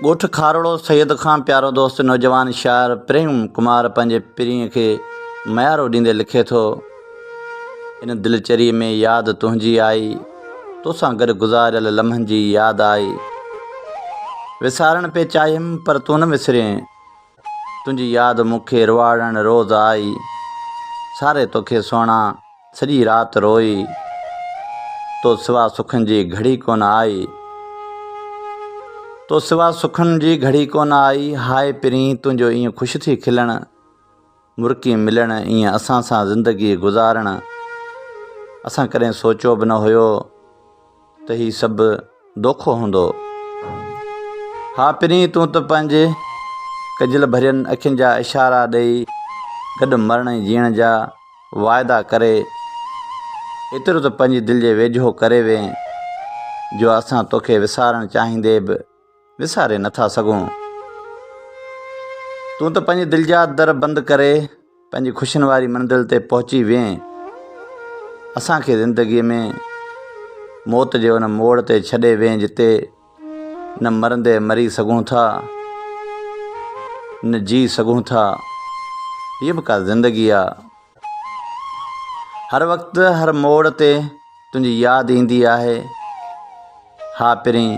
ڳوٺ کارڙو سيد کان پيارو دوست نوجوان شاعر پريم ڪمار پنهنجي پرينء کي ميارو ڏيندي لکي ٿو ان دلچري ۾ ياد تنهنجي آئي توسان گڏ گذاريل لمحن جي ياد آئي وسارڻ پئي چاهيم پر تون نه وسرين تنهنجي ياد مون کي رواڙڻ روز آئي ساري توکي سهڻا سڄي رات روئي تو سوا سکن جي گهڙي ڪونه آئي تو سوا سکن جي گهڙي ڪونه آئي هاء پرين تنهنجو ائين خوش ٿي کلڻ مرڪي ملڻ ائين اسان سان زندگي گذارڻ اسان ڪڏهن سوچيو به نه هيو ته هي سڀ دوکو هوندو ها پرين تون ته پنهنجي ڪجل ڀرين اکين جا اشارا ڏئي گڏ مرڻ ۽ جيئڻ جا واعدا ڪري ايترو ته پنهنجي دل جي ويجهو ڪري وئين جو اسان توکي وسارڻ چاهيندي به وساري نه ٿا سگهون. تون ته پنهنجي دل جا در بند ڪري پنهنجي خوشين واري منزل تي پهچي وئين. اسان کي زندگي ۾ موت جي ان موڙ تي ڇڏي وئين جتي نه مرندي مري سگهون ٿا نه جي سگهون ٿا. هيء به ڪا زندگي آ. هر وقت هر موڙ تي تنهنجي ياد ايندي آهي ها پرين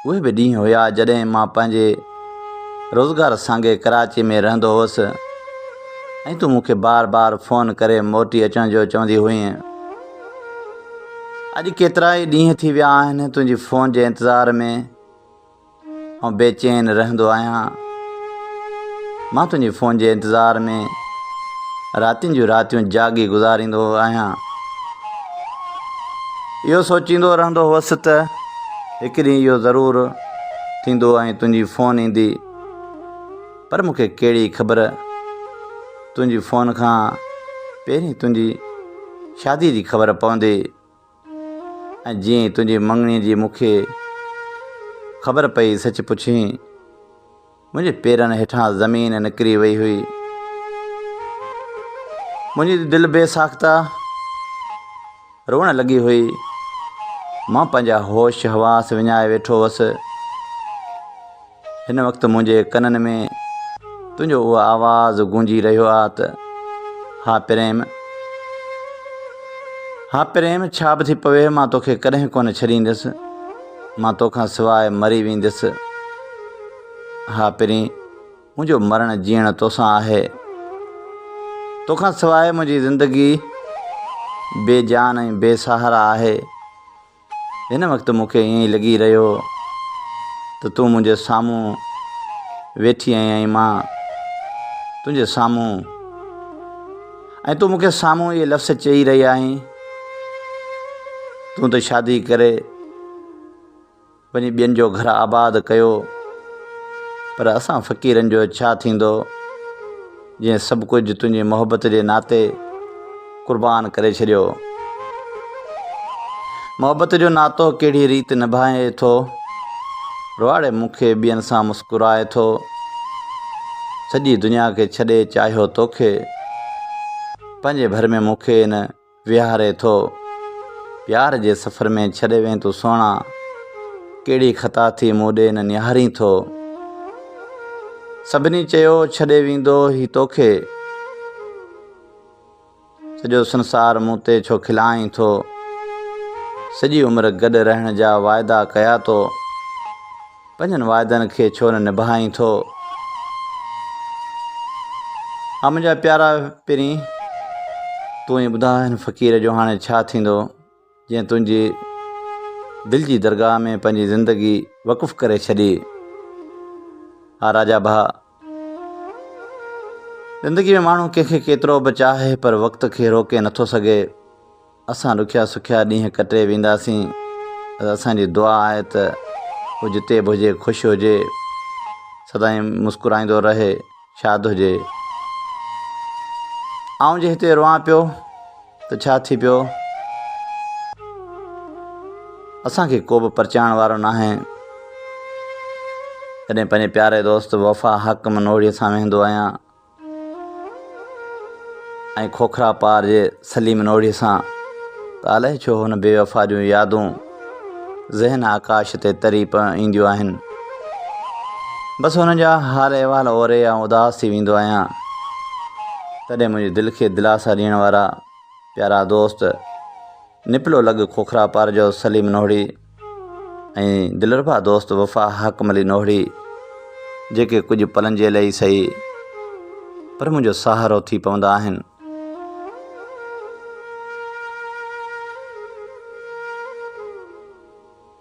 اهي به ڏينهن هيا جڏهن مان پنهنجي روزگار سانگي ڪراچي ۾ رهندو هوس ۽ تون مون کي بار بار فون ڪري موٽي اچڻ جو چوندي هئين اڄ ڪيترا ئي ڏينهن ٿي ويا آهن تنهنجي فون جي انتظار ۾ آئون بي چين رهندو آهيان. مان تنهنجي فون جي انتظار ۾ راتين جون راتيون جاڳي گذاريندو آهيان. اهو سوچيندو رهندو هوس ته هڪ ڏينهن اهو ضرور ٿيندو ۽ تنهنجي فون ايندي. پر مون کي ڪهڙي خبر تنهنجي فون کان پهرين تنهنجي شاديء جي خبر پوندي. ۽ جيئن تنهنجي مڱڻي جي مون کي خبر پئي سچ پڇين، منهنجي پيرن هيٺان زمين نڪري وئي هئي. منهنجي دل بي ساخته روئڻ لڳي هئي. مان پنهنجا هوش حواس وڃائي ويٺو هوس. هن وقت منهنجي ڪنن ۾ تنهنجو اهو آواز گونجي رهيو آ ته ها پريم ها پريم ڇا به ٿي پوي مان توکي ڪڏهن ڪونه ڇڏيندس مان توکان سواء مري ويندس ها پرين منهنجو مرڻ جيئڻ توسان آهي توکان سواء منهنجي زندگي بي جان ۽ بي سهارا آهي هن وقت مون کي ائين لڳي رهيو ته تون منهنجي سامهون ويٺي آهين ۽ مان تنهنجي سامهون ۽ تون مون کي سامهون اهي لفظ چئي رهي آهين تون ته شادي ڪري وڃي ٻين جو گهر آباد ڪيو پر اسان فقيرن جو ڇا ٿيندو جنهن سڀ ڪجهه تنهنجي محبت جي ناتي قربان ڪري ڇڏيو محبت جو ناتو ڪهڙي ريت نڀائي ٿو رواڙي مون کي ٻين سان مسڪرائي ٿو سڄي دنيا کي ڇڏي چاهيو توکي پنهنجي ڀر ۾ مون کي ان ويهاري ٿو. پيار جي سفر ۾ ڇڏي وين تون سهڻا، ڪهڙي خطا ٿي مون ڏي نه نهارين ٿو. سڀني چيو ڇڏي ويندو هي توکي، سڄو سنسار مون تي ڇو کلائين ٿو. سڄي عمر گڏ رهڻ جا واعدا ڪيا تو. پنهنجن وعدن کي ڇو نه نڀائين ٿو؟ آ منهنجا پيارا پرين! تون ئي ٻڌاء هن فقير جو هاڻي ڇا ٿيندو، جنهن تنهنجي دل جي درگاهه ۾ پنهنجي زندگي وقف ڪري ڇڏي. آ راجا ڀاء! زندگي ۾ ماڻهو ڪنهن کي ڪيترو به چاهي پر وقت کي روڪي نٿو سگهي. اسان ڏکيا سکيا ڏينهن ڪٽي وينداسين بس اسان جي دعا آهي ته هو جتي به هجي خوش هجي سدائين مسڪرائيندو رهي شاد هجي آئون جي هتي روئان پيو ته ڇا ٿي پيو اسان کي ڪو به پرچائڻ وارو ناهي جڏهن پنهنجي پياري دوست وفا حق منوڙي سان ويهندو آهيان ۽ کوکرا پار جي سليم نوڙي سان ته الائي ڇو هن بيوفا جون يادون ذهن آڪاش تي تري پئي اينديون آهن. بس هن جا حال احوال اوري آئون اداس ٿي ويندو آهيان تڏهن منهنجي دل کي دلاسا ڏيڻ وارا پيارا دوست نپلو لڳ کوکرا پار جو سليم نوڙي ۽ دلربا دوست وفا حاڪم علي نوھڙي جيڪي ڪجهه پلن جي لئي ئي سھي پر منھنجو سھارو ٿي پوندا آھن.